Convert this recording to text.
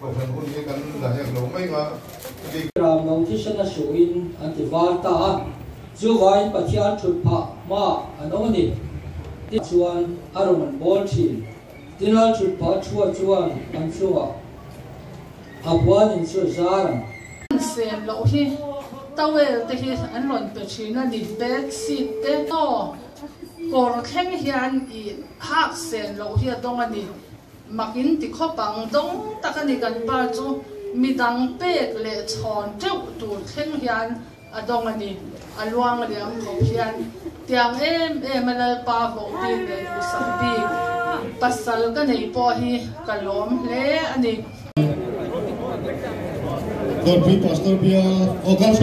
Bawlhhlawh hun hi kan la hek lo mai nga chutiang. Ram lo thi hrena hruh in an ti var ta a, chu vain Pathian thut phah hma an awm a ni tih chuan a rawn an bawl thin. Tinal thut phah a thua chuan an chungah a buan in chu a zar ang. Sen loh hi towel te hi an rawn pe thin a ni, bed sheet te emaw kawr thleng hian ih hak sen loh hi a dawng a ni. Makin ti khawp ang dawng tak a ni kan pa chu midang pek leh chhawn teuh tur thleng hian a dawng a ni, a luang liam khawp hian tiang em em a lalpa hawh bik leh duhsah bik pasal ka nei pawh hi ka lawm hle a ni. Dawtpui Pastor Bia August.